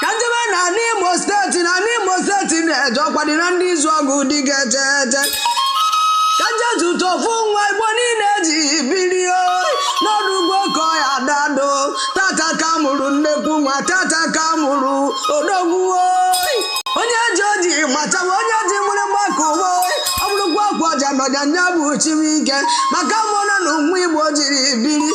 ka m jebe na ala imo steeti na ala imo steeti na-eje ọkwa dị na ndị izuogu dị ga-eje eje ka m je zute ofu nwa igbo niile jiri biri o n'ọdụ ugbo ka ọ ya dado tata ka a mụrụ nnekwu nwa tata ka a mụrụ odogwu oyi onye ji oji matawa onye ji mụrụ mgbakọ ụwa oyi ọ bụrụkwa ọkwa ọja nọja nya bụ chimike maka a mụrụ nwa ụmụ igbo jiri biri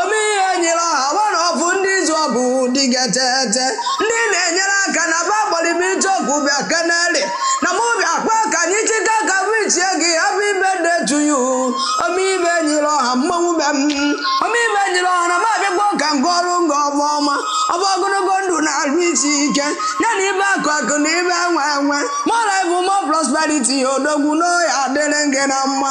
ome ihe nyịrị ọha nwa afọ ndị izuogu dịgetete ndị na-enyere aka na ba gbara m ije ọgụ bịa keneli na mụ bịa kpa ka anyị chịta ka vichie gị hapụ ibe detu yu ome ive nyịrị ọha mmanwụ be m ome ive nyịrị ọha na m abịakwa ka nke ọrụ nga ọba ọma ọba ogologo ndụ na arụ isi ike ya na ive akụ akụ na ive enwe enwe mọra bụ mọ prosperity odogwu na ọ ya-adịrị gị na mma